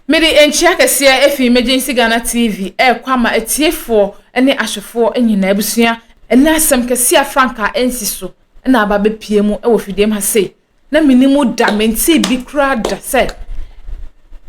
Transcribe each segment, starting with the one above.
Mede nkyia kɛseɛ ɛfiri Emergency Ghana TV ɛrekɔ ama atiefoɔ ne ahwɛfoɔ nyinaa. Abusua, ɛnɛ asɛm kɛseɛ a frankaa ɛnsi so na aba abɛpue mu wɔ fidiem ha sei. Na menim mu da, mentee bi koraa da sɛ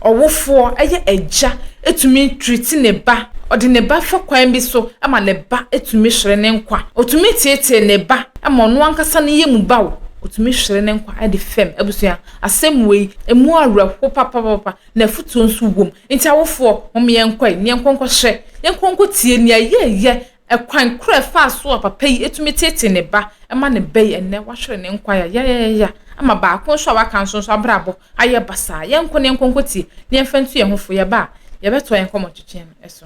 ɔwofoɔ ɛyɛ agya ɛtumi treati ne ba, ɔde ne ba fa kwan bi so ma ne ba ɛtumi hwere ne nkwa. Ɔtumi teetee ne ba ma ɔno ankasa ne yɛ mu ba o, ɔtumi hwere ne nkwa de fam abusua. Asɛm wei, emu awerɛhow papaapa, na afotu nso wom. Enti awofoɔ, momma yɛnkɔ ɛ, yɛnkɔ nkɔhwɛ, yɛnkɔ nkɔtie nea yɛreyɛ, ɛkwan koro a ɛfaa so a papa yi tumi teetee ne ba ma no ba yi. Ɛnnɛ, wahwere ne nkwa yayayaya ama baako nso a waka nso nso abrabɔ ayɛ basaa. Yɛnkɔ na yɛnkɔ nkɔtie, na yɛmfa ntu yɛn ho fo. Yɛba a, yɛbɛtoa yɛn nkɔmmɔtwetwe no so.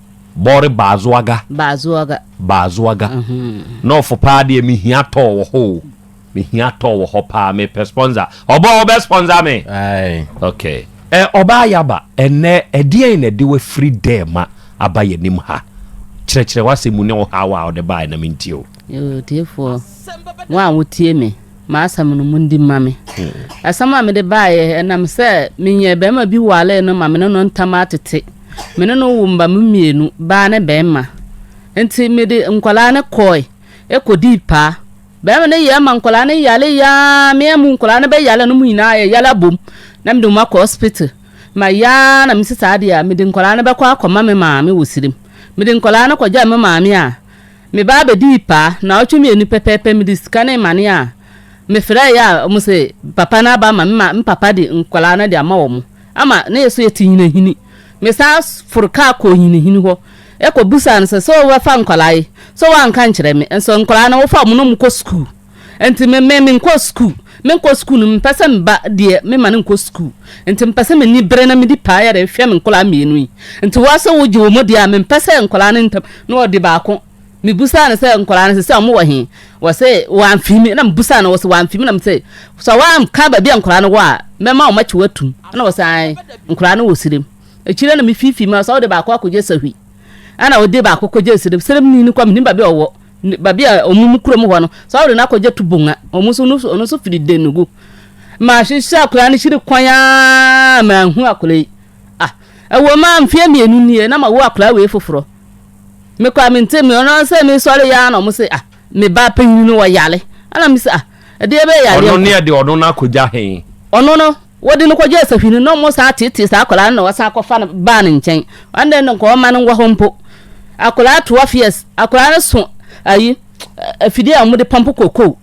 Bɔre Baazoaga. Baazoaga. Baazoaga. Nɔɔfo paa deɛ me hia tɔɔ wɔ hɔ o. Me hia tɔɔ wɔ hɔ paa me pɛ sponsor. Ɔbɔ wo bɛ sponsor me. Aye. Okay. Ɛ ɔbaa Yaba ɛnɛ ɛdeɛn na ɛde wafiri dɛɛma aba yɛnim ha? Kyerɛkyerɛ w'asɛm mu ne wo haw a wode baeɛ na mentie o. Yoo, atiefoɔ, mo a motie me, m'asɛm no mondi mma me. Asɛm a mede baeɛ, ɛnam sɛ menyɛ barima bi waree no ma me ne no ntam atete. Me ne no woo mma mmienu, baa ne barima. Nti mede nkwadaa no kɔe, ɛkɔdii paa. Barima no yɛɛ ma nkwadaa no yare yaa, me amu nkwadaa no bɛyare no, mo nyinaa yɛyare abom. Na mede wɔn akɔ hospital. Ma yaa na mesi saa deɛ a, mede nkwadaa no bɛkɔ akɔma me maame wɔ Sirim. Mede nkwadaa no kɔgyaa me maame a, Me baa bedii paa, naawɔtwe mmienu pɛpɛɛpɛ mede sika no remane a, mefrɛɛeɛ a wɔn se papa no aba ama me ma me papa de nkwadaa no de ama wɔn ama na yɛ so yɛte Nyinahini. Me san foro kaa kɔɔ Nyinahini hɔ kɔ bisaa no sɛ, sɛ wobɛfa nkwadaa yi, sɛ woanka nkyerɛ me, nso nkwadaa no wofa wɔn na wɔkɔ sukuu? Nti me me menkɔɔ sukuu. Menkɔɔ sukuu no mempɛ sɛ me ba deɛ mema no nkɔ sukuu. Nti mepɛ sɛ m'ani bere na medi paa yɛ de hwɛ me nkwadaa mmienu yi. Nti wo ara sɛ wogye wɔn di a mempɛ sɛ nkwadaa no ntam na ɔde baako. Mebisaa no sɛ nkwadaa no seesei wɔwɔ he? Ɔse wamfiri me. Ɛna mebisaa no ɔse wamfiri me na mese sɛ woanka baabi a nkwadaa no wɔ a mɛma wɔn akyi wo atum. Ɛna ɔse ae nkwadaa no wɔ Sirem. Akyire na mefiifii mu a ɔse wode baako akɔgye Sahwi. Ɛna ɔde baako kɔgye serem serem ni no kɔ menim baabi a ɔwɔ baabi a ɔmo mu kurom hɔ no saa ɔde no akɔgye to bonga ɔmo nso ɔno nso firi denugu mahyehyɛ akwadaa no hyiri kwan aa manhu akwadaa yi ah ɛwɔ ma mfeɛ mmienu nie na ma wo akwadaa wei foforɔ mekɔ a mente me ɔno sɛ mesɔre yaa na ɔmo se ah me ba panyin no ɔyare ɛna me sɛ ah ɛdeɛ bɛyɛ yareɛ ɔno ne ɛde ɔno no akɔgya he ɔno no wɔde no kɔgya asafiri no na ɔmo saa tetee saa akwadaa no na wɔsan akɔfa no baa ne nkyɛn ɛnna no nka ɔma no nwɔ hɔ mpo akwadaa twelve years akwadaa no so ayi afidie a wɔde pɔmpo kokoo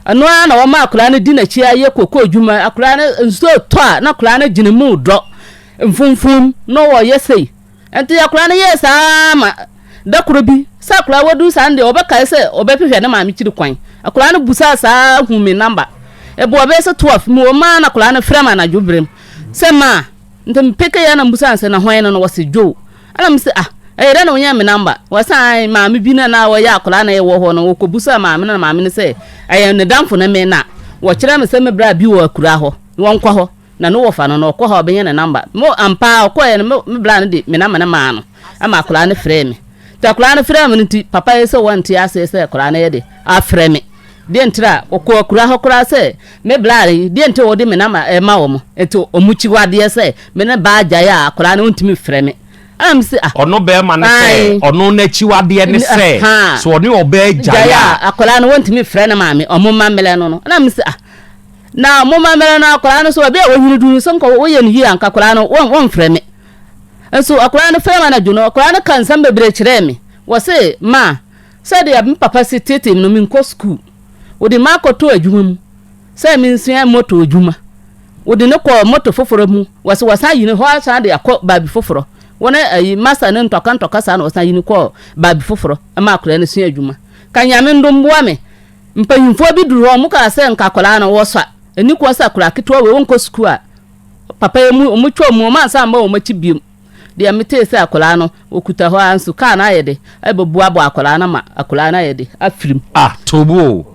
ɛno ara na wɔma akwadaa no di n'akyi ayɛ kokoo adwuma akwadaa no nsuo tɔ a na akwadaa no gyina mu dɔ mfumfum na wɔyɛ sei Enti akwadaa no yɛɛ saa ara ma da koro bi, sɛ akwadaa a wadu saa no deɛ ɔbɛkae sɛ ɔbɛhwehwɛ ne maame kyiri kwan. Akwadaa no busaa saa ara huu me namba. Ɛboɔ bɛyɛ sɛ 12, mewɔ mu ara na akwadaa no frɛ me anadwo berɛ mu sɛ ma a. Nti mepekee ara na mebusaa no sɛ, na hwan no no? Ɔse, Joe. Ɛna mese, ah, ɛyɛ dɛn na wonyaa me namba? Ɔse, ae, maame bi na na ɔyɛ akwadaa na yɛwɔ hɔ no, ɔkɔbusaa maame no na maame no sɛ ɛyɛ ne damfo na me na wɔkyerɛɛ me sɛ mebra bi wɔ akura hɔ, wɔnkɔ hɔ. Na no wɔfa no na ɔkɔ hɔ a ɔbɛnya ne namba. Mo ampa ara ɔkɔeɛ no me bra no de me namba no maa no ɛma akwadaa no frɛɛ me. Nti akwadaa no frɛɛ me no nti papa yi sɛ wɔnte aseɛ sɛ akwadaa no yɛ de afrɛ me. Deɛ nti a ɔkɔ akura hɔ koraa sɛ me bra yi deɛ nti a ɔde me namba ɛma wɔn nti wɔn kyi hɔ adeɛ sɛ me ne baa gyae a akwadaa no ɔntumi frɛ me. Ɛna me se ah. Ɔno bɛɛma no sɛ ɔno n'akyiwadeɛ ne sɛ sɛ ɔne ɔbaa gyae a. Gyae a akwadaa no wɔntumi frɛ ne maame wɔn mma mmerɛ no no. Ɛna me se ah. Na momma mmerɛ no akwadaa no nso baabi a wɔnyini duru no sɛ nkɔ wɔyɛ no yie anka akwadaa no wɔn wɔmfrɛ me nso akwadaa no frɛ me anadwo no akwadaa no ka nsɛm bebree kyerɛɛ me wɔse ma sɛdeɛ me papa si tete no menkɔ sukuu wɔde ma akɔtɔ adwuma mu sɛ mensua moto adwuma wɔde no kɔ moto foforɔ mu wɔse wɔsan ayi no hɔ asan de akɔ baabi foforɔ wɔne ayi masa no ntɔka ntɔka saa na wɔsan ayi no kɔ baabi foforɔ ma akwadaa no sua adwuma ka nyame ndom boa me Mpanyimfoɔ bi duru hɔ, wɔkaa sɛ nka akwadaa no wɔsɔ a, ɛni kwan sɛ akwadaa ketewa wei ɔnkɔ sukuu a papa yi mu wɔn twa mu wɔn ansa mma wɔn akyi biom. Deɛ metee sɛ akwadaa no wɔkuta hɔ ara nso kaa no ayɛ de ɛbɛboaboa akwadaa no ama akwadaa no ayɛ de afirim. Ah tobo o,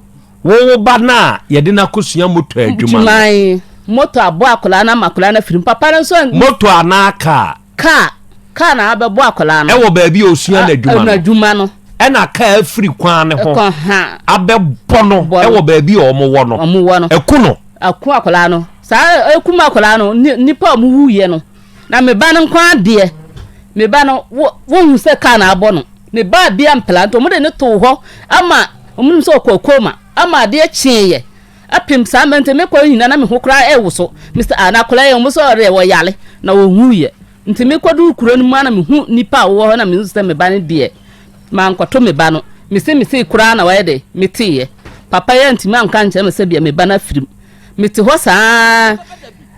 wo wo ba no a yɛde no akɔsua motor adwuma no. Motor aboa akwadaa no ama akwadaa no afirim, papa no nso. Motor anaa kaa, Kaa, kaa na abɛbɔ akwadaa no. Ɛwɔ baabi a osua n'adwuma no. N'adwuma no. Ɛna kaa afiri kwan no ho. Ɛkɔ ha. Abɛbɔ no. Ɛwɔ baabi a wɔn wɔ no. Wɔn wɔ no. Ɛku no. Ɛku akwadaa no. Saa ɛkum akwadaa no nipa a wɔn wu yɛ no. Na me ba no nko adeɛ. Me ba no wo wɔn hu sɛ kaa na abɔ no. Me ba bi ampela nti wɔn de ne too hɔ ama wɔn nim sɛ ɔkɔ koma ama adeɛ kyeeɛ. Apem saa mber ntsi mekɔr nyina na moho koraa ewosow. Mister Ah, n'akɔla yi, ɔmmbɔsɔɔ dɛ ɔyare na owuiɛ. Ntsi mekɔdur kuro no mu a na mehu nyimpa a wɔwɔ hɔ na mehu sɛ me ba no deɛ, mannkɔto me ba no. Mese mesee koraa na ɔyɛ dɛ metseeɛ. Papa yi anntumi annka annkyerɛ me sɛ bia me ba no afir mu. Metse hɔ saa ara.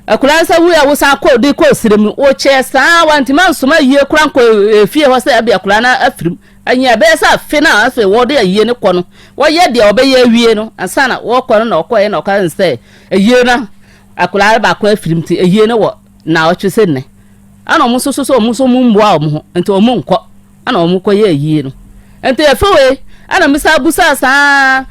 Akɔla no san wuiɛ a wosan kɔɔ dee kɔɔ serɛ mu. Wokyɛɛ saa ara, wɔanntumi annsoma ayie koraa annkɔ efie hɔ sɛ ɛbia akɔla no afir mu. Ɛnnyɛ ɛbɛyɛ sɛ afe no a afei wɔde ayie no kɔ no, wɔyɛ deɛ wɔbɛyɛ awie no ansa na wɔrekɔ no na ɔkɔeɛ na ɔkaa sɛ ayie no akwadaa no baako afirim nti ayie no wɔ naawɔtwe sɛ nnɛ. Ɛna wɔn nso so sɛ wɔn nso wɔn mmoa wɔn ho nti wɔn nkɔ ɛna wɔn kɔyɛ ayie no. Nti afe wei ɛna mesa busaa saa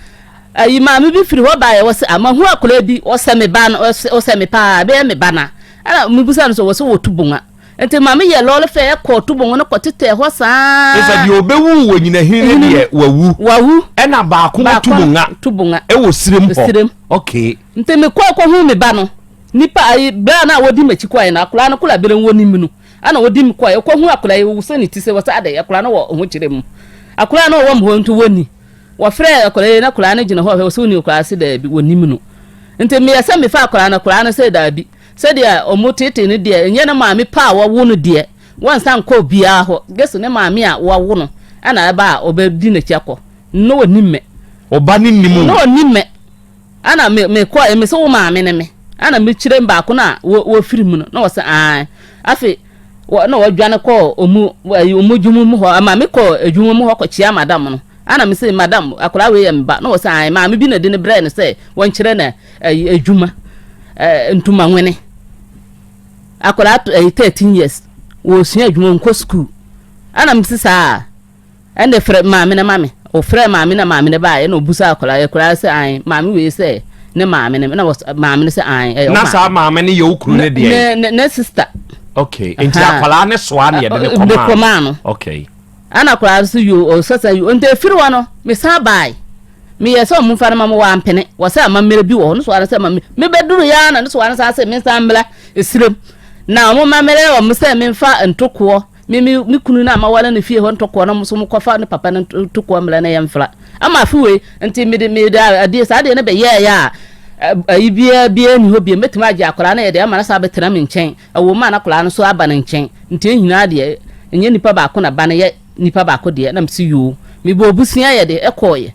ayi maame bi firi hɔ baeɛ wɔsɛ amahu akwadaa bi wɔsɛ me ba no wɔsɛ me paa ɛbɛyɛ me ba na ɛna mebusaa no sɛ wɔsɛ wɔtu bonga Enti maame yɛɛ lɔɔre fɛɛ kɔɔ tubon ho na kɔtetɛɛ hɔ saa. Efisɛ deɛ ɔbɛwu wɔ nyina hene no deɛ, wawu. Wawu. Ɛna baako wɔ tubonga. Tubonga. Ɛwɔ sirem hɔ. Sirem. Okay. Nti mekɔɔ kɔhuu me ba no. Nipa ayi, bɛa no a ɔdi m'akyi kɔɔɛ no, akwadaa no koro a berem wɔ ne mu no, ɛna ɔdi me kɔɔɛ. Ɔkɔhuu akwadaa yi, ɔwusɛ ne ti sɛ wɔsɛ adɛn, akwadaa no wɔ ahokyerɛ mu. Akwadaa no ɔwɔ me hɔ nti wɔnni. Wɔfrɛɛ akwadaa yi na akwadaa no gyina hɔ hwɛ, ɔsɛ ɔni akwadaa se daabi, wɔnnim no. Nti meyɛ sɛ mefaa akwadaa no, akwadaa no sɛ daabi. Sɛdeɛ wɔtetee no deɛ, ɛnyɛ ne maame pɛ a wawo no deɛ, wansan nkɔ obiara hɔ, gye sɛ ne maame a wawo no na ɛba a ɔbɛdi n'akyi akɔ. Ná ɔnnim me. Wo ba no nnim wo? Ná ɔnnim me. Ɛnna me, mekɔe, mese, Wo maame ne me? Ɛnna mekyerɛɛ mu baako no a wafiri mu no, na ɔse, Aane. Afei. wɔ na wɔdwane kɔɔ ɔmu ɛyi ɔmu adwuma mu hɔ ama me kɔɔ adwuma mu hɔ kɔkyia madam no ana me se madam akwadaa wei yɛ me ba na wɔ sɛ an maame bi na de ne brɛ no sɛ wɔnkyerɛ na ɛyi adwuma ɛɛ ntoma nwene akwadaa ɛyi thirteen years wɔsua adwuma nkɔ sukuu ana me se saa. Ɛnde frɛ maame no ma me. Wɔfrɛɛ maame no na maame no baeɛ, ɛnna ɔbisaa akwadaa no, ɛyɛ akwadaa no sɛ aane, maame wei sɛ ne maame no, ɛnna wɔ maame no sɛ aane, ɛyɛ wo maame. Na saa maame no yɛ wo kunu no deɛn? Ne ne ne sista. Okay, nti akwadaa no soa na yɛde ne kɔmaa no. De kɔmaa no. Okay. Ɛnna akwadaa no so yo ɔsasa yo nti efiri hɔ no mesan baae meyɛ sɛ ɔmo nfa no ma mo wɔ ampene wɔ sɛ amammerɛ bi wɔ hɔ no soa no sɛ ma me mebɛduru yɛ ara na no soa no saa sɛ mensan mmra esiram na ɔmo mammerɛ wɔ mo sɛ memfa ntokoɔ Me me me kunu no a maware no fie hɔ ntɔkoɔ no nso mokɔfa ne papa no ntokoɔ mmrɛ no yɛmfra. Ama afe wei nti mede mede adeɛ saa adeɛ no bɛyɛɛyɛ a ayi biara biara nni hɔ biom. Mɛtumi agye akwadaa no yɛde ama no sɛ abɛtena me nkyɛn. Ɛwom a na akwadaa no nso aba ne nkyɛn. Nti yɛn nyinaa deɛ ɛnyɛ nipa baako na ba no yɛ nipa baako deɛ na mese yoo. Mebɔɔ bosea yɛde kɔeɛ.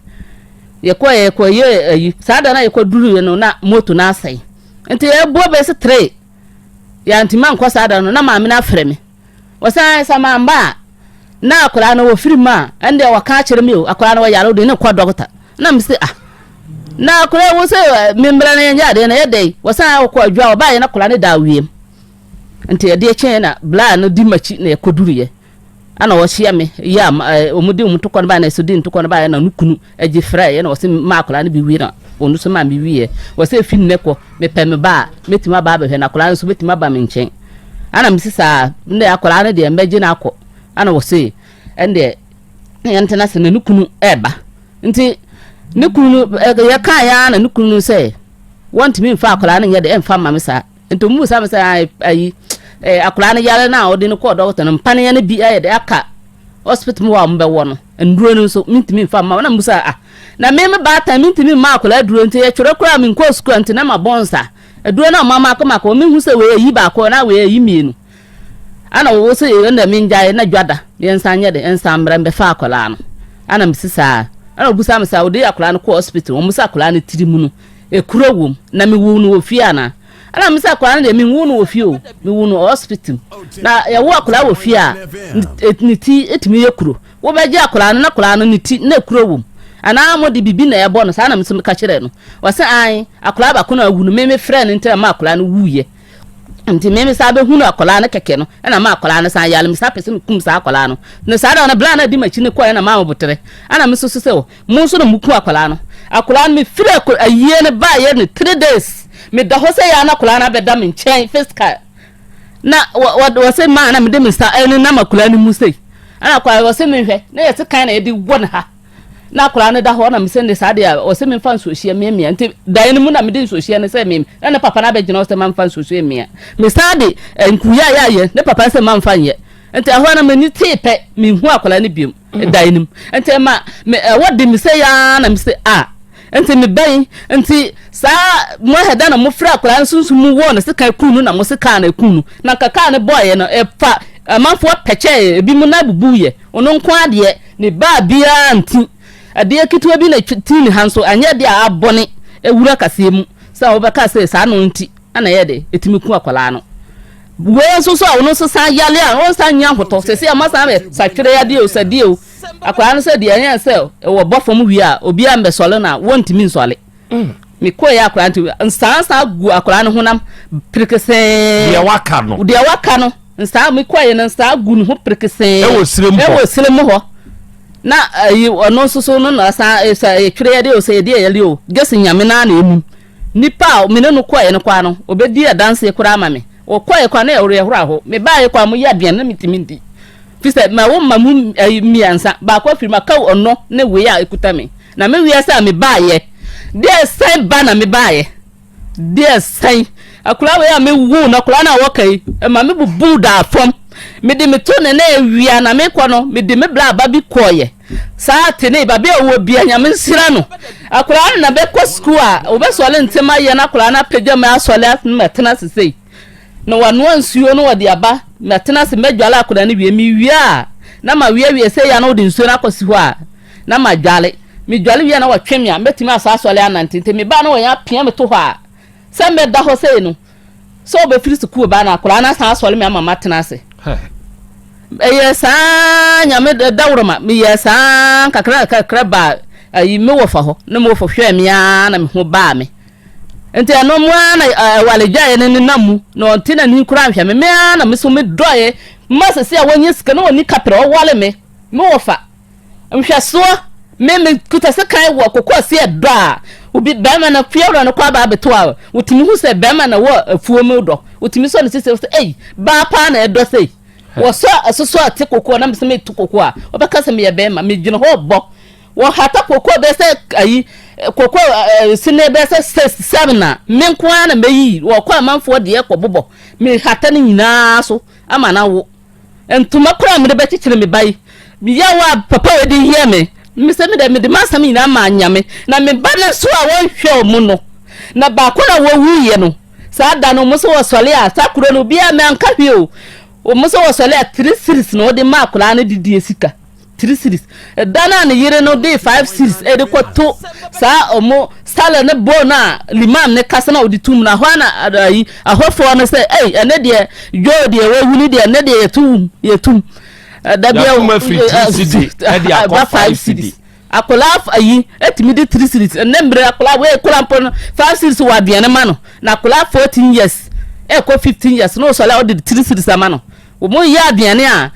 Yɛkɔeɛ yɛkɔyɛɛ ayi saa da no a yɛkɔduruiɛ no na moto no asɛe. Nti ɛboɔ bɛyɛ sɛ three. Yɛantumi ankɔ saa da no, na maame no afrɛ me. Wɔsan sɛ mamba a, na akwadaa no wɔfiri mu a, ɛndeɛ wɔka akyerɛ me o, akwadaa no wɔyare wode ne kɔ dɔkta. Na me se ah, na akwadaa wo sɛ eh, membrɛ no yɛnyɛ adeɛ na ɛyɛ dɛn? Wɔsan wɔkɔ adwa wɔbaeɛ na akwadaa no da awieɛ mu. Nti ɛdeɛ kyɛn na blaa no di makyi na yɛkɔduruiɛ. Ɛna wɔhyia me yɛ a wɔn de wɔn tokɔ no baeɛ na ɛsɛ di ntokɔ no baeɛ na ne kunu gye frɛ yɛ na wɔsɛ maa akwadaa no bi wie na wɔn nso maa me wieɛ wɔsɛ efi nnɛ kɔ mepɛ me ba a mɛtumi aba abɛhwɛ na akwadaa no nso bɛtumi aba me nkyɛn ɛna mesi saa nnɛ akwadaa no deɛ mbɛgye no akɔ ɛna wɔsɛ ɛndeɛ yɛntena se na ne kunu ɛɛba nti ne kunu no yɛka yɛ na ne kunu no sɛ wɔntumi mfa akwadaa no nyɛ de ɛmfa mma me saa nti ɔmu sa me sɛ ayi eh, akwadaa no yare no a ɔde no kɔɔ dɔkta no mpaneɛ no bi ayɛ dɛ aka hospital mu hɔ a wɔbɛwɔ no nnuro no nso mentumi mfa mma na mu sɛ ah na me me baatan mentumi mma akwadaa aduro nti yɛtwerɛ koraa menkɔɔ sukuu nti na mabɔ nsa aduro no a ɔma mako mako mehu sɛ wei ayi baako na wei ayi mmienu ana wɔwɔ sɛ ɛna mengyae na dwada yɛnsan nyɛ de nsan mmerɛ mbɛfa akwadaa no ana mesi saa ana ɔbusa me sɛ wode akwadaa no kɔɔ hospital wɔn sɛ akwadaa no tiri mu no Ekuro wom na me woo no wɔ fie anaa ɛna me sɛ akwadaa no deɛ me nwoo no wɔ fie o me woo no wɔ hospital mu na yɛwo akwadaa wɔ fie a ne ti etumi yɛ kuro wobɛgye akwadaa no na akwadaa no ne ti na ekuro wom anaa mo de bibi na ɛbɔ no saa na me sɛ meka kyerɛ no wɔsɛ an akwadaa baako na awu no me me frɛ no ntɛm ma akwadaa no wuyɛ nti me me saa bɛhunu akwadaa no kɛkɛ no ɛna ma akwadaa no san yale me saa pɛ sɛ mekum saa akwadaa no na saa da no bla na adi makyi ne kɔɛ na ma wɔbotere ɛna me soso sɛ Mo nso na mo ku akwadaa no. Akwadaa no me firi akwa ayie no ba yɛ no three days me da hɔ sɛ yɛ ana akwadaa no abɛ da me nkyɛn physical na wɔ wɔ wɔ se maa na me de me nsa ɛne nam akwadaa no mu sɛ ɛna akwadaa wɔ se me hwɛ na yɛ se kan na yɛ de wɔ ne ha na akwadaa no da hɔ na me sɛ ne saa deɛ wɔ se me nfa nsuohyia mmea mmea nti dan no mu na me de nsuohyia no sɛ me na ne papa no abɛ gyina hɔ sɛ ma nfa nsuohyia mmea me saa de nkuya yɛ ayɛ ne papa sɛ ma nfa nyɛ nti ɛhɔ na me ni tee pɛ me hu akwadaa no biom da anim nti ɛma me ɛwɔ de me sɛ yaa na me sɛ a nti me bɛn nti saa mo ɛda na mo fira akwadaa no sunsun mu wɔ ne se kan kun no na mo se kaa na ekun no na nka kaa ne bɔɔyɛ no ɛfa amanfoɔ pɛkyɛ ebi mu na ebubu yɛ ɔno nko adeɛ ne baa biara nti adeɛ ketewa bi na ti ne ha nso anyɛ deɛ abɔne ewura kaseɛ mu sɛ wɔbɛka sɛ saa no nti. Ɛna ɛyɛ dɛ ɛtumi ku akwadaa no. Wei nso so a ɔno nso san yale a ɔnsan nya ahotɔ sɛsɛ ɔma san bɛ satwere adeɛ o sɛdeɛ o akwadaa no sɛ deɛ ɛyɛ sɛ ɛwɔ bɔ fam wie a obiara mbɛ sɔle no a wɔntumi nsɔle mm. mekɔɛ akwadaa nti nsaa saa gu akwadaa no honam perekesee deɛ waka no deɛ waka no nsaa mekɔɛ no nsaa gu ne ho perekesee ɛwɔ serem hɔ ɛwɔ serem hɔ na ayi eh, ɔno nso so no na san ɛsɛ eh, ɛtwere eh, yɛde o sɛ yɛde yɛde o gyesi nyame naa na emu. Nipa a me ne no kɔe no koraa no, obedii adanse koraa ama me. Ɔkɔe koraa, na ɛyɛ awerɛhow. Mebae koraa, moyɛɛ aduan na mintumi ndi, efisɛ mawo mma mu mmiɛnsa, baako afiri mu, aka ɔno ne wei a ekuta me. Na me wiase a mebaeɛ deɛ sɛn ba na mebaeɛ deɛ sɛn? Akwadaa wei a mewoo no, akwadaa no a ɔka yi, ɛma mebubuu daa fam. Mede me to ne nan awia na mekɔ no, mede me bra aba bi kɔeɛ. Saa ate ne babea a ɔwɔ bia nyame nhyira no akwadaa no na bɛkɔ sukuu a wɔbɛsɔle ntem ayɛ no akwadaa no apagya mu asɔle ase no matena ase sei na wanoa nsuo no wɔde aba matena ase madwale akwadaa no wie mewie a na ma wie wie sei a na wɔde nsuo no akɔsi hɔ a na ma dwale medwale wie a na wɔtwe me a mɛtumi asa asɔle anante nti mebaa na wɔyɛ apia me to hɔ a sɛ mɛda hɔ sei no sɛ ɔbɛfiri sukuu ba no akora na san asɔre me ama matena ase ɛyɛ saa nyame dawuroma meyɛ saa kakra kakra baa ayi me wɔfa hɔ ne me wɔfa hwɛɛ me ara na me ho baa me nti ɛno mu ara na ɛwale dwaeɛ no nenam mu na ɔnte n'ani koraa nhwɛ me me ara na me so me dɔeɛ mma sɛ sɛ a wɔnyɛ sika na wɔni kapra ɔwale me me wɔfa Nhwɛsoɔ, Me me kuta sekan wɔ kokoɔseɛ dɔ a, obi barima no fiewura no kɔ aba abɛto a, wotumi hu sɛ barima no wɔ afuo mu dɔ. Wotumi sɔ ne sisi sɛ, ei, baa paa na ɛdɔ sei. Wɔsɔ asosɔ a te kokoɔ na mesɛ meto kokoɔ a, wɔbɛka sɛ meyɛ barima, megyina hɔ bɔ. Wɔhata kokoɔ bɛyɛ sɛ ayi, kokoɔ ɛɛ sini bɛyɛ sɛ six seven a, me nko ara na mɛyi, wɔkɔ amanfoɔ deɛ kɔbobɔ, mehata ne nyinaa so ama no awo. Ntoma koro a mede bɛkyekyere me ba yi, yaw a papa wei de yɛɛ me, mese me deɛ mede m'asɛm nyinaa maa Nyame, na me ba no nso a wɔnhwɛ wɔn no, na baako no a wɔwuiɛ no, saa da no wɔn nso wɔsɔre a, saa kuro no obiara, manka hwee o, wɔn nso wɔsɔre a three cedis na wɔde maa akwadaa no de die sika. three cedis ɛda no a ne yere no de five cedis de kɔto saa ɔmo salad ne bowl no a limam ne kasa na ɔde tum no ahɔ na ayi ahɔfoɔ no sɛ ɛy ɛne deɛ dwoo deɛ wawu ne deɛ ɛne deɛ yɛto wum yɛtum ɛda bi ɛwɔ ɛba five cedis akwadaa ayi etumi de three cedis ɛnɛ mmerɛ akwadaa wei kura mpo no five cedis wɔ aduane ma no na akwadaa fourteen years ɛkɔ fifteen years na ɔsɔre a ɔde three cedis ama no wɔn yɛ aduane a.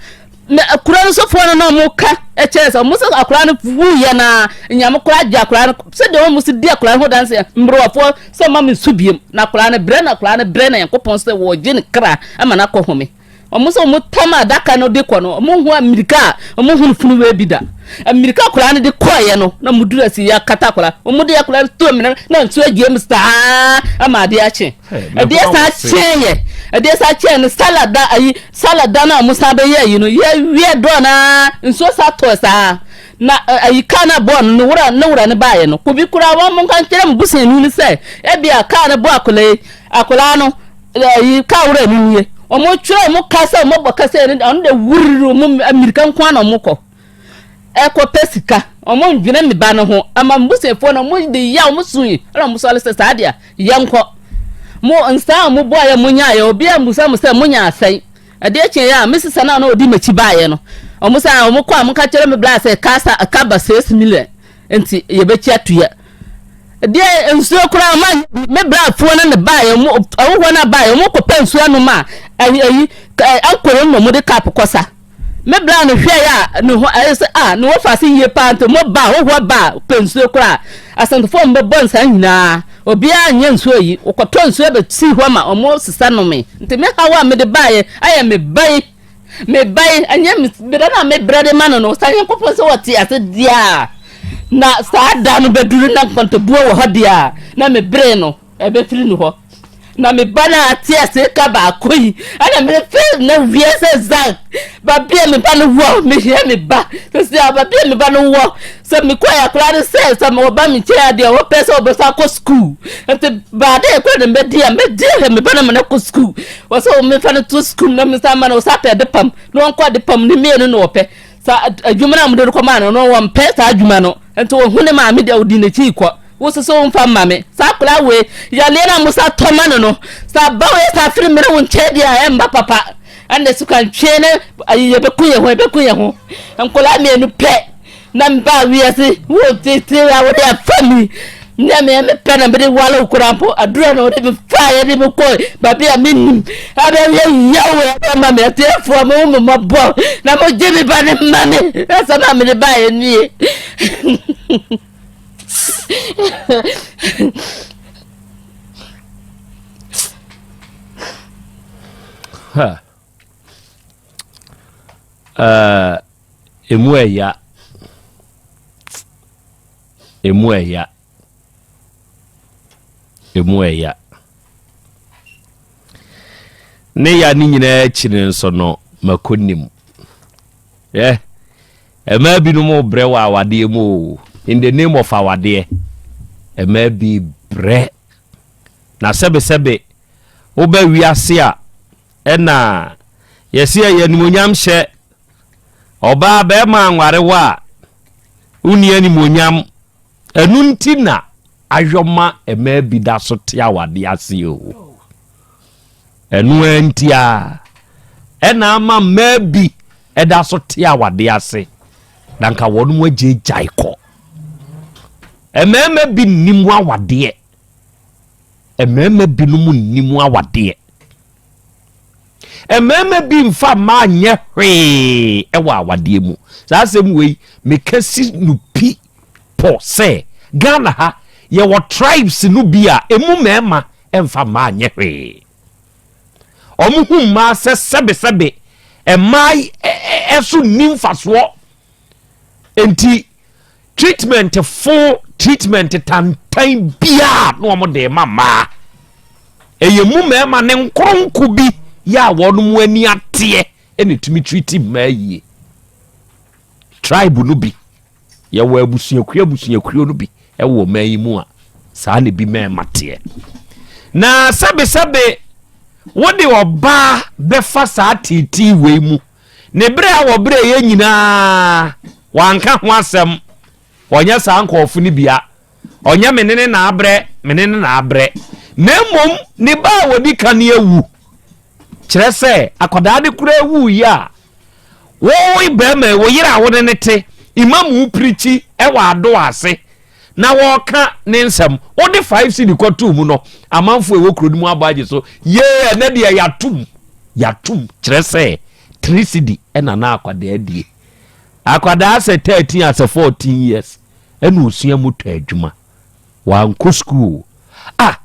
Na akura no sofoɔ no na wɔn ka kyerɛ sɛ wɔn sɛ akura no wuiɛ na nyame kora agye akura no sɛdeɛ wɔn si di akura no ho danseɛ mmerɛwafoɔ sɛ ma me nsu biem na akura no brɛ na akura no brɛ na nyankopɔn sɛ wɔgye ne kra ama no akɔ home wɔn sɛ wɔn tam adaka no de kɔ no wɔn ho amirika a wɔn ho no funu wei bi da amirika akura no de kɔɔyɛ no na wɔn dura si yɛ akata akura wɔn de akura no tuo mene na nsu agyiem saa ama adeɛ akye ɛdeɛ saa kyɛn yɛ ɛdeɛ saa kyɛn no salad da ayi Sala da no a wɔsan bɛyɛɛ ayi no, yɛwiɛ dɔɔ no ara, nsuo san tɔɔɛ saa ara, na ayi kaa no a ɛbɔɔ no no wura ne wura no baeɛ no. Obi koraa wɔn monka nkyerɛ mo busuani no sɛ ebia kaa no bɔɔ akwadaa yi, akwadaa no, ayi kaa wura no nie. Wɔtwerɛɛ wɔn kaa sɛ wɔbɔ kasa yi no, ɔno deɛ wurr wɔn mmirika nko ara na wɔkɔ. ɛkɔpɛ sika ɔmo ndwene me ba no ho ama m'busuafoɔ no ɔmo de ya ɔmo su yi ɛna ɔmo sɔre sɛ saa deɛ a yɛnkɔ mo nsa a ɔmo boaeɛ mo nyaeɛ obiara mmusa mo sɛ mo nya asɛn ɛdeɛ kyeeɛ a me sesa no a na ɔdi m'akyi baeɛ no ɔmo sɛ a ɔmo kɔ a mo ka kyerɛ me bla sɛ ka sa ka ba six million nti yɛbɛkyi atuya deɛ nsuo koraa ɔmo anyɛ bi me brafoɔ no ne baeɛ ɔmo ɔmo hɔ no a baeɛ ɔmo kɔpɛ nsuo anom a ɛyi ɛyi ɛnkoro na ɔmo de cup kɔ sa. Me bra no hwɛe a, ne ho ayɛ sɛ, ah, ne ho fa ase yie paa, nti mo ba, hohoa ba a, wopɛ nsuo koraa. Asantefo a wɔbɛbɔ nsaa nyinaa, obiara nyɛ nsuo yi, wɔkɔtɔ nsuo bɛsii hɔ ma wɔsesa nomee. Nti me haw a mede baeɛ ayɛ me ba yi, me ba yi, ɛnyɛ me berɛ no a mebrɛ de ma no no, sɛ Nyankopɔn sɛ ɔte ase deɛ a, na saa da no bɛduru na nkɔntɔbuo wɔ hɔ deɛ a, na mebree no. Ɛbɛfiri ne hɔ. Na me ba no ara te ase ka baako yi, ɛna merefe na wie sɛ Zhang, baabi a me ba no wɔ, mehia me ba. Sɛsi a baabi a me ba no wɔ, sɛ mekɔɛ a koraa ne sɛ, sɛ ɔba me nkyɛn adeɛ a, wɔpɛ sɛ wɔbɛsan akɔ sukuu. Nti baadae koraa na mɛdi a, mɛdi ahwɛ me ba no ma no akɔ sukuu. Wɔ sɛ wɔmefa no to sukuu na mesan ma no, wɔsan pɛ ade pam, na wɔnkɔ ade pam, ne mmienu na wɔpɛ. Sa adwuma no a wɔde no kɔmaa no no, wɔmpɛ saa adwuma no. Nti wɔhu ne maame deɛ, wɔdi n'akyi rekɔ. Wo nso sɛ womfa mma me. Saa akwadaa wei, yareɛ no a wɔsa tɔ ma no no, sɛ aba wei saa firi mmra wo nkyɛn deɛ a, ɛmma papa. Ɛnna sukantweɛ ne ayi yɛbɛku yɛn ho, yɛbɛku yɛn ho. Nkwadaa mmienu pɛ na mebaa wiase wɔ titiri a wɔde afa mi. Nea me me pɛ na me de wale wo koraa mpo, adura na ɔde me faa yɛ de me kɔ baabi a me nim. Abɛ yɛ yawo abɛ ma me atiafoɔ mo mo mo bɔ na mo gye me ba ne ma me. Ɛsɛ na me de ba yɛ nie. Ha. Uh, emu ɛya. Emu ɛya. Emu ɛya. Ne ya ne nyinaa akyi no nso no mako nim. Yɛ ɛmaa binom brɛ wɔ awadeɛ mu o in the name of awadeɛ ɛmaa bi brɛ na sɛbesɛbe wobɛ wiase a ɛna yɛsi ɛyɛ animonyam hyɛ Ɔbaa barima anware wo a, wonni animuonyam. Ɛno nti na ayɔma mmaa bi da so te awadeɛ ase o. Ɛno ara nti a, ɛna ama mmaa bi ɛda so te awadeɛ ase na nka wɔn mu agye gyae kɔ. Mmarima bi nnim awadeɛ. Mmarima binom nnim awadeɛ. Mmarima bi mfa mmaa nyɛ hwee wɔ awadeɛ mu. Saa asɛm wei meka si no pi pɔ sɛ Ghana ha yɛwɔ tribes no bi a ɛmu mmarima mfa mmaa nyɛ hwee. Wɔn hu mmaa sɛ sɛbesɛbe mmaa ɛso nni mfasoɔ. Enti treatment fo treatment tantan biara na wɔn de ma mmaa ɛyɛ mu mmarima ne nkoronko bi yɛ a wɔn mu ani ateɛ ɛna etumi treat mmaa yie tribe no bi yɛwɔ abusuakuo abusuakuo no bi ɛwɔ mmaa yi mu a saa na ebi mmarima teɛ na sɛbesɛbe wɔde ɔbaa bɛfa saa tete wei mu Ne berɛ a wɔbrɛeɛ nyinaa, wanka ho asɛm. Ɔnyɛ saa nkurɔfo no bia. Ɔnyɛ me ne ne na abrɛ, me ne ne na abrɛ. Na mmom, ne ba a wɔdi kan no awu. Kyerɛ sɛ, akwadaa no koraa wuiɛ a, wo barima, wo yere a wo ne no te, mma mu pirikyi wɔ adɔ ase. na wɔka ne nsɛm wode five cedi kɔtoo mu no amanfoɔ ɛwɔ kuro no mu abɔ agye so yee ɛnɛ deɛ yɛatom yɛatom kyerɛ sɛ three cedi ɛna na akwadaa die akwadaa sɛ thirteen asɛ fourteen years ɛna osua mu tɔ adwuma wankɔ school ah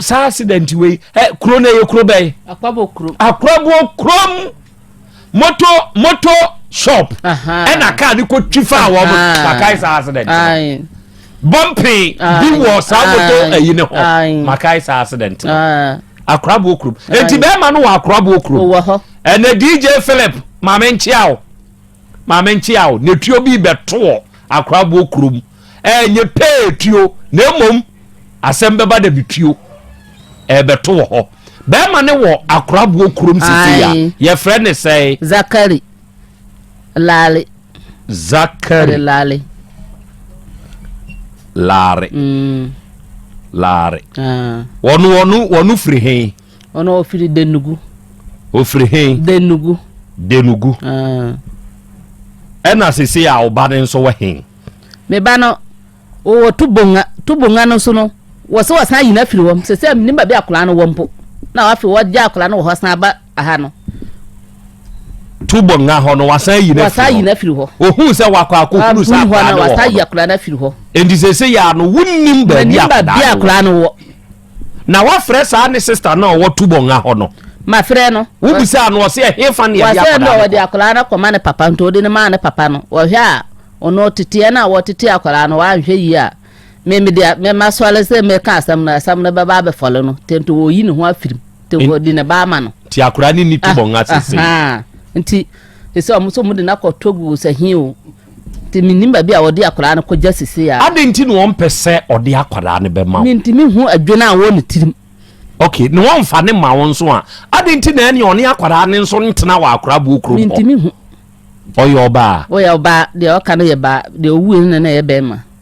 saa accident wei ɛ kuro no yɛ kuro bɛyɛ. akwaboɔ kurom. akwaboɔ kurom moto moto shop ɛna kaa ne ko twi fa wɔn makae saa accident bɔmpe bi wɔ saa moto ɛyi ne hɔ makae saa accident akwaboɔ kurom eti bɛrima no wɔ akwaboɔ kurom ɛna dj philip maame nkyia o maame nkyia o n'etuo bi bɛtoɔ akwaboɔ kurom. Ɛnyɛ pɛɛ tuo na mmom asɛm bɛba da bi tuo ɛbɛto wɔ hɔ. Bɛrima ne wɔ akoraboɔ kurom sisi a yɛfrɛ ne sɛe? Zakari Lare. Zakari Lare. Lare. Mm. Lare. Ah. Wɔn wɔn wɔn firi hɛn. Wɔn wɔfiri Denugu. Ofiri hɛn. Denugu. Denugu. Ah. Ɛna sisi a ɔba ne nso wɔ hɛn. Me ba no, wowɔ tubonga. Tubonga no so no, wɔ sɛ wɔsan ayi no afiri hɔ. Sɛ sɛ menim baabi akwadaa no wɔ mpo. Na afei wɔgya akwadaa no wɔ hɔ san aba aha no. Tubonga hɔ no wɔasan ayi no afiri hɔ. Wɔasan ayi no afiri hɔ. Ohun sɛ wakɔ akɔhunu sɛ akwadaa no wɔ hɔ. Wɔasan ayi akwadaa no afiri hɔ. Enti sɛ sɛ yɛ ano wonim baabi akwadaa no wɔ. Na wafrɛ saa ne sista no a ɔwɔ Tubonga hɔ no. Mafrɛ no. Wobisaa no, ɔse ɛhefa na yɛde akwadaa no kɔ? Wɔse no wɔde akwadaa no kɔma ne papa, nti wɔde no maa ne papa no. Wɔhwɛ a, ɔno teteɛ no a wɔtetee akwadaa no, wanhwɛ yie a, me mede masɔre sɛ mɛka asɛm no, asɛm no bɛba abɛfɔle no, nti nti wɔyi ne ho afirim, nti wɔde ne ba ama no. Nti akwadaa no ni Tubonga sese. Nti sɛ ɔmo sɛ ɔmo de no akɔ Togo sɛ he o, Nti mennim baabi a wɔde akwadaa no kɔgya sesei ara. Adɛn nti na wɔmpɛ sɛ ɔde akwadaa no bɛma wo? Mentumi nhu adwene a ɛwɔ ne tirim. Ok, na wɔmfa no mma wo nso a, adɛn nti na ɛne ɔne akwadaa no nso ntena wɔ Akoraboɔ kurom hɔ? Mentumi nhu. Ɔyɛ ɔbaa? Ɔyɛ ɔbaa, deɛ ɔka no yɛ baa, deɛ ɔwuiɛ no na na ɛyɛ barima.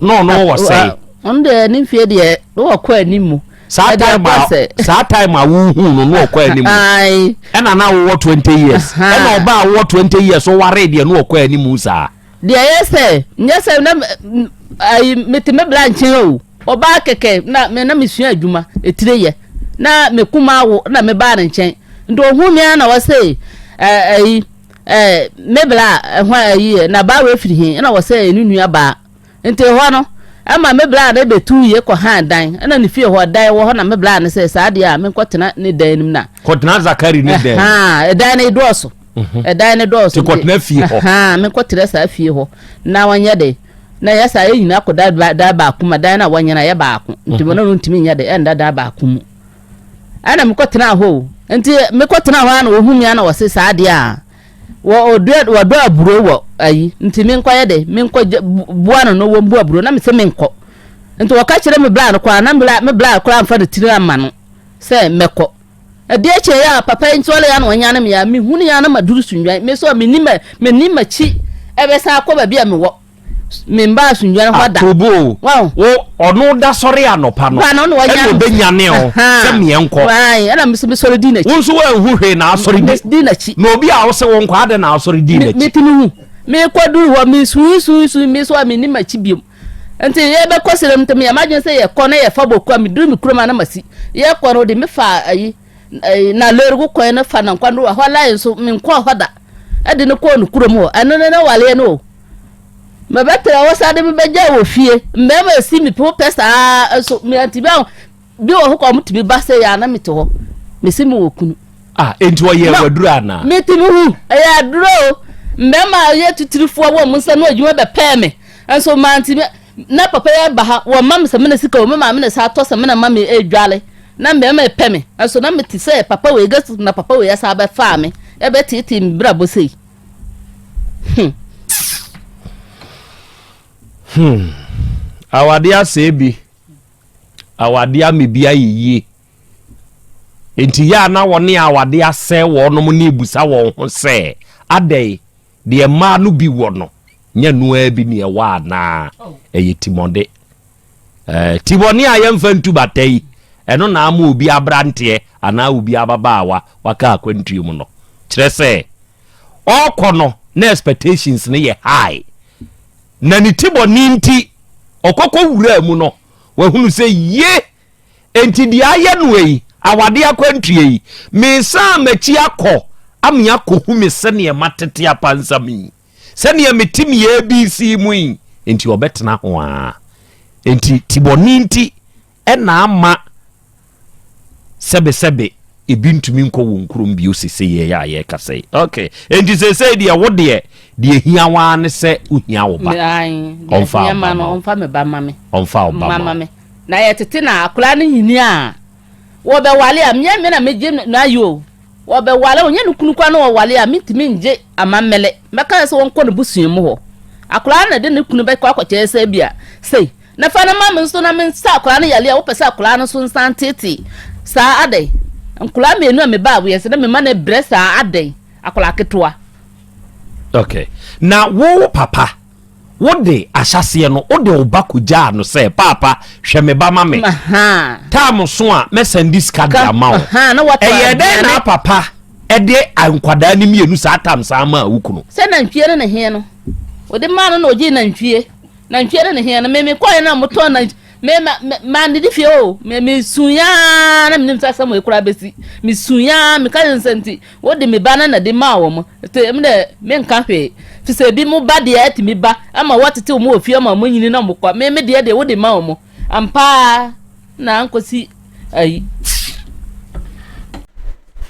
na ɔno wɔ sɛe ɔno deɛ ne mfie deɛ na wɔkɔ anim mu saa time a saa time a wohu no na ɔkɔ anim ɛna na wowɔ twenty years ɛna ɔba a wowɔ twenty years ɔware deɛ na ɔkɔ anim saa deɛ ɛyɛ sɛ nyɛ sɛ na ayi mete me bra nkyɛn o ɔbaa kɛkɛ na me na mesua adwuma etire yɛ na mekuma awo na mebaa ne nkyɛn nti ohun mi ara na wɔsɛ ɛɛ ayi. eh, me bla a hwan ayi yɛ na baa wei firi he ɛna wɔ sɛ ne nua baa nti hɔ no ɛma me bla no bɛtu yie kɔ han dan ɛna ne fie hɔ dan wɔ hɔ na me bla no sɛ saa deɛ a menkɔ tena ne dan nim na kɔtena zakari ne dan ɛdan no dɔɔso ɛdan no dɔɔso nti kɔtena fie hɔ menkɔ tena saa fie hɔ na wɔnyɛ de na yɛ saa yɛ nyina kɔ dan baako ma dan no a wɔnyɛ no yɛ baako nti mo no ntumi nyɛ de ɛnda dan baako mu Ɛna mekɔ tenaa hɔ o. Nti mekɔ tenaa hɔ a na wɔhu me a na wɔse saa adeɛ a wɔdɔ aburo wɔ ayi nti menkɔ yɛ de menkɔ boa no no wɔn bu aburo na mese menkɔ. Nti wɔka kyerɛ me bra no koraa na me bra koraa mfa ne tiri amma no sɛ mɛkɔ. Ɛdeɛ kyɛ yɛ a papa yi nti ɔlɛ a na wɔnyane me a mehunu yɛ a na maduru Sunnwan. Me nso a menni m'akyi ɛbɛsan akɔ baabi a mewɔ. memba asomdwa no hɔ da. Aturubu o, wo ɔno da sɔre anɔpa no, ɛna ɔbɛnyane o, sɛ meɛ nkɔ. Ɛna mesɛ mesɔre di n'akyi. Wo nso woanhu hwee na asɔre di. Di n'akyi. Na obi a wo se wo nkɔ adɛn na asɔre di n'akyi. Metumi hu. Mekɔ duru hɔ, mesuusuusu, me so a menim akyi biom. Nti yɛbɛkɔ serem nti meyɛ m'adwene sɛ yɛkɔ na yɛfa boku a meduru me kurom a na masi. Yɛkɔ no de mefa ayi. Ɛɛ, na lɔɔre kwan no fa no nkɔ no, ɛhɔ line nso, menkɔɔ hɔ da. Ɛde no kɔɔ ne kurom hɔ. Ɛno ne n'awareɛ no o. Mebɛtena hɔ saa de mebɛgya wɔ fie. Mmarima si me po pɛ saa nso meantumi aho. Bi wɔ hɔ kɔ ɔmo tumi ba sɛ yɛ na mete hɔ. Mesi me wɔ kunu. Ah, enti ɔyɛ waduro anaa? Metumi hu, ɛyɛ aduro o. Mmarima a ɛyɛ titirifoɔ wɔ ɔmo nsa no adwuma bɛpɛɛ me. Nso mantumi. Na papa yi aba ha, wɔmma me samina sika o, me maame na ɛsan tɔ samina ma me dware, na mmarima repɛ me, nanso na mete sɛ papa wei gets na papa wei asan abɛfaa me rebɛteetee me brabɔ sei. Hmm. Hmm. Awade asɛe bi. Awade ama bi ayɛ yie. Enti yɛ a na wɔne awade asɛe wɔnom ne ebusa wɔn ho sɛ adɛn Deɛ mmaa no bi wɔ no, nyɛ ɛno ara bi na ɛwɔ anaa? Ɛyɛ timɔde. Eh, timɔne a yɛmfa ntu bata yi, ɛno na ama obi aberanteɛ anaa obi ababaawa waka akwantuo mu no. Kyerɛ sɛ, ɔrekɔ no na expectations no yɛ high. Na ne timɔne nti, ɔkɔkɔ wuraa mu no, wahunu sɛ ye, Enti deɛ ayɛ no ei, awadeɛ akwantuo ei, mesan m'akyi akɔ ame akɔhu me sɛdeɛ matete apansam yi, sɛdeɛ mete me ABC mu yi, enti ɔbɛtena ho aa. Enti tibɔne nti na ama sɛbesɛbe Ebi ntumi nkɔ wɔn kurom bio seseiɛ a yɛrekasa yi. Ok, enti seesei deɛ wo deɛ, deɛ ehia wo ara ne sɛ wohia wo ba. Ae, deɛ Ɔmfa ehia wo ba ma no, ma wo. ɔmfa me ba mma me. Ɔmfa wo ba Mma ma mma wo. me. Na yɛtete no a, akwadaa no nyini a, wɔbɛwale a, menyɛ me na megye no no ayi o. Wɔbɛwale, ɔnyɛ ne kunu koraa na wɔwale a, mentumi ngye amammele. Mɛka sɛ wɔnkɔ n'abusua mu hɔ. Akwadaa no na ɛde ne kunu bɛkɔ akɔkyerɛ sɛ ebia sei. Na fa no ma me nso na mensa akwadaa no yareɛ a wopɛ sɛ akwadaa no so nsa nteete saa adɛn? Nkwadaa mmienu a mebaa wiase na mema no abrɛ saa adɛn? Akwadaa ketewa. Ok, na wo papa wode ahyɛseɛ no wode wo ba kɔgyaa no sɛ paapa hwɛ me ba ma me tam so a mɛsɛnde sika de ama wo ɛyɛ dɛn na papa ɛde nkwadaa no mmienu saa tam saa ma a wo kunu sɛ nantwie no ne heɛ no wode maa no na ɔgyee nantwie Nantwie no ne hea no me me kɔɛ na mo tɔn nantwie me ma me ma ne di fie o me me sun yaa na me nim sa sɛm ekura besi me sun yaa me ka yɛ nsɛm ti wo de me ba na na de ma wɔ mo te me dɛ me nka hwee fisɛ ebi mo ba deɛ ɛte me ba ama wɔ tete wɔn wɔ fie ama wɔn nyini na mo kɔ me me deɛ deɛ wo de ma wɔ mo ampaa na anko si ayi.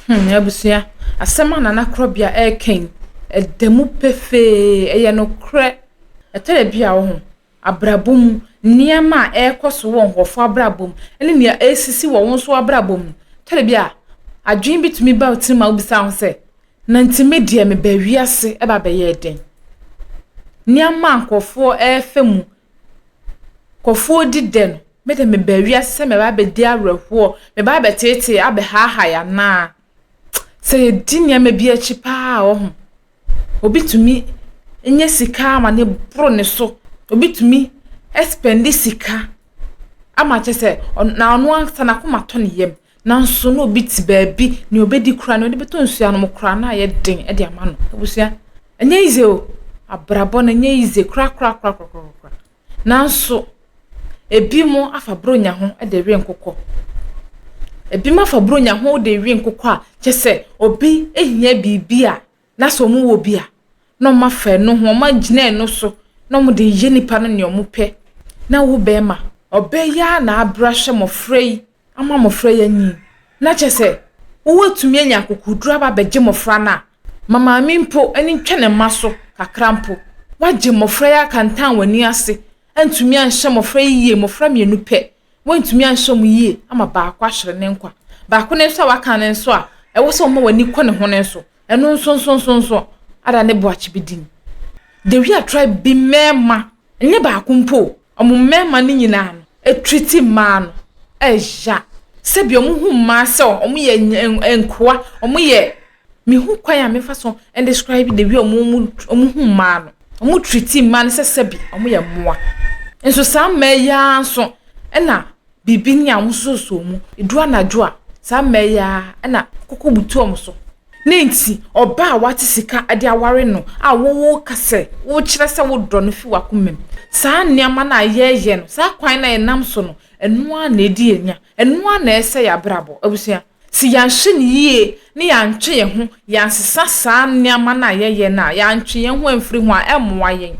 Hmm, abusua asɛm a nana korɔbea ɛɛkɛn ɛda mu pefee ɛyɛ no korɛ. Ɛtɔ da bi a wo ho, abrabɔ mu nneɛma a ɛrekɔ so wɔ nkurɔfoɔ abrabɔ mu ne nea ɛresisi wɔ wo nso w'abrabɔ mu no, ɛtɔ da bi a adwene bi tumi ba wo tirim ma wobisa wo ho sɛ, na nti me deɛ mebaa wiase ɛba abɛyɛɛ dɛn? Nneɛma a nkurɔfoɔ refa mu, nkurɔfoɔ di dɛ no, me deɛ mebaa wiase sɛ mɛba abɛdi awerɛhoɔ, mɛba abɛteetee, abɛhaahae anaa? sɛ yɛdi nneɛma bi akyi paa a, ɔho, obi tumi nya sika ama ne boro ne so. Obi tumi spɛnde sika ama kyɛ sɛ na ɔno ankasa n'akoma tɔ ne yam. Nanso na obi te baabi, nea obedi koraa, nea ɔde bɛtɔ nsu anom koraa, na ayɛ den de ama no. Abusua, ɛnyɛ easy o. Abrabɔ no ɛnyɛ easy korakorakorakorakorakora. Nanso, ebinom afa Buronya ho de we nkokɔ. Ebinom afa Buronya ho de we nkokɔ a, kyerɛ sɛ obi hia biribi a, na sɛ wɔwɔ bi a, na wɔafa ɛno ho, wɔagyina ɛno so, na wɔde reyɛ nnipa no nea wɔpɛ. Na wo bɛrima, ɔbɛyɛ ara na abrɛ ahwɛ mmɔfra yi. ama mmɔfra yi anyin, na kyerɛ sɛ wobɛtumi anya akokoduru aba abɛgye mmɔfra no a, ma maame mpo ani ntwa ne mma so kakra mpo. Woagye mmɔfra yi akantan w'ani ase, antumi anhyɛ mmɔfra yi yie, mmɔfra mmienu pɛ, woantumi anhyɛ wɔn yie ama baako ahwere ne nkwa. Baako no nso a waka no nso a, ɛwɔ sɛ woma w'ani kɔ ne ho no nso, ɛno nso nso nso nso, ada ne boakye bi din. The Wia tribe bi mmarima. Ɛnyɛ baako mpo o, wɔn mmarima no nyinaa no treati mmaa no ya. Sɛdeɛ wɔn hu mmaa sɛ wɔn yɛ nkoa, wɔn yɛ, me hu kwan a mɛfa so describe the way wɔn hu mmaa no. Wɔn treati mmaa no sɛ sɛbi wɔn yɛ mmoa. Nso saa mmaa yi ara nso ɛna. biribi ne ahososɔ mu. Ɛduru anadwo a, saa mmaa yi ara na koko butu wɔn so. Ne nti, ɔbaa a wate sika de aware no a woka sɛ wokyerɛ sɛ wodɔ no fi w'akomam. Saa nneɛma no a yɛyɛ no, saa kwan no a yɛnam so no, ɛno ara na ɛdi yɛn nya. Ɛno ara na ɛsɛe yɛn abrabɔ. Abusua, Sɛ yɛanhwɛ no yie na yɛantwe yɛn ho, yɛansesa saa nneɛma no a yɛyɛ no a, yɛantwe yɛn ho amfiri ho a, ɛremmoa yɛn.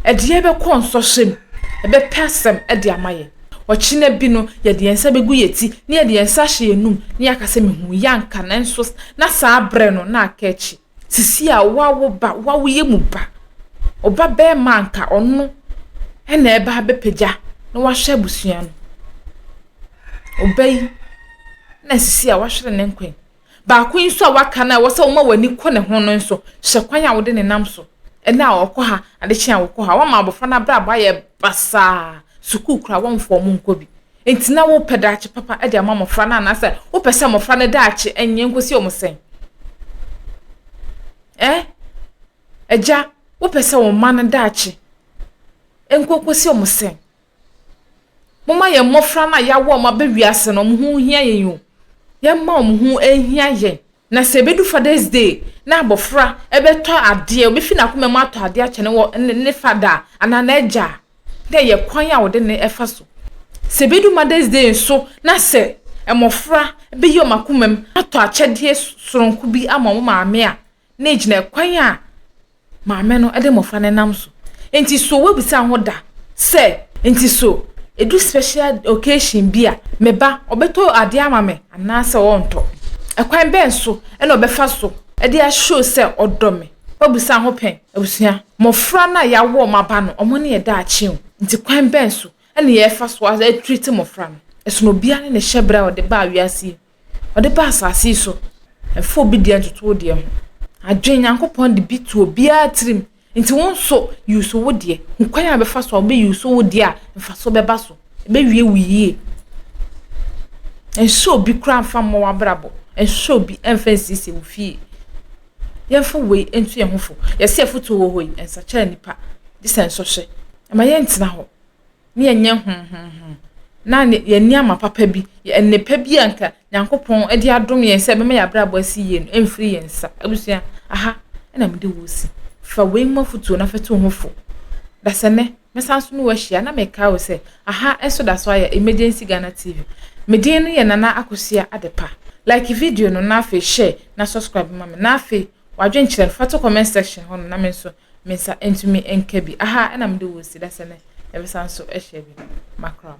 Ɛde yɛn bɛkɔ nsɔhwɛ mu. Ɛbɛpɛ asɛm de ama yɛn. Ɔkyena bi no, yɛde yɛn nsa bɛgu yɛn ti, na yɛde yɛn nsa ahyɛ yɛn anom, na yɛaka sɛ, Mehuu yɛn anka, nanso na saa berɛ no, na aka akyi. Sisi a woawo ba, woawo yɛ mu ba, ɔba bɛɛma a nka ɔno ɛna ɛba abɛpagya na wahwɛ abusua no. Ɔba yi na sisi a wahwere ne nkwan. Baako yi nso a waka no a ɛwɔ sɛ woma w'ani kɔ ne ho no nso, hyɛ kwan a wode ne nam so. Ɛnɛ a ɔkɔ ha, adekye a ɔkɔ ha. Wama abɔfra no abrabɔ ayɛ basaa, sukuu koraa wɔmfa wɔn nkɔ bi. Enti na wopɛ daakye papa de ama mmofra no anaasɛ wopɛ sɛ mmofra no daakye nyɛ nkosi wɔn sɛn? Ɛ? Agya, wopɛ sɛ wo mma no daakye nkɔ nkosi wɔn sɛn? Momma yɛn mmofra no a yɛawo wɔn aba wiase no, wɔn ho nhia yɛn o. Yɛmma wɔn ho nhia yɛn. Na sɛ ebedu Father's Day na abofra bɛtɔ adeɛ, obefi n'akoma mu atɔ adeɛ akyɛ ne wɔ ne ne fada a, anaa n'agya a, na ɛyɛ kwan a wɔde ne fa so. Sɛ ebedu Mother's Day nso na sɛ mmofra beyi wɔn akoma mu atɔ akyɛdeɛ soronko bi ama wɔn maame a, na egyina kwan a Maame no de mmofra no nam so. Enti so woabisa ho da sɛ, Enti so edu special occasion bi a, me ba ɔbɛtɔ ade ama me anaasɛ ɔrentɔ? Ɛkwan bɛn so na ɔbɛfa so de a-show sɛ ɔdɔ me? Woabisa ho pɛn? Abusua, mmofra no a yɛawo wɔn aba no, wɔn ne yɛn daakye o. Enti kwan bɛn so na yɛfa so a-treat mmofra no? Ɛsono obiara ne ne hyɛbrɛ a ɔde baa wiase yi mu. Ɔde ba asase yi so, ɛfa obi deɛ ntoto wo deɛ ho. Adwen, Nyankopɔn de bi to obiara tirim. Nti wo nso use wo deɛ. Hu kwan a bɛfa so a wobɛ use wo deɛ a mfaso bɛba so. Ɛbɛwie wo yie. Ɛnhyɛ obi koraa mfa mmɔ w'abrabɔ. Ɛnhyɛ obi mfa nsiesie wo fie. Yɛmfa wei nto yɛn ho fo. Yɛse afutuo wɔ hɔ yi, ɛnsakyera nnipa. Gyesɛ nsɔhwɛ. Ɛma yɛntena hɔ. na yɛnyɛ homhomho, na yɛn nneɛma papa bi, yɛn nnepa bi a nka Nyankopɔn de adom yɛn sɛ ɛbɛma yɛn abrabɔ asi yie no mfiri yɛn nsa. Abusua, aha na mede wo resi. Fa wei mu afotuo na fa tu wo ho fo. Dasɛnnɛ, mɛsan so ne wo ahyia na mekae wo sɛ, aha nso da so ayɛ Emergency Ghana TV. Me din no yɛ Nana Akosua Adepa. Like video no na afei share na subscribe ma me. Na afei, W'adwenkyerɛ no, fa to comment section hɔ nom na me nso me nsa ntumi nka bi. Aha na mede wo si da sɛ nɛ yɛbɛsan nso ahyia bi. Makram.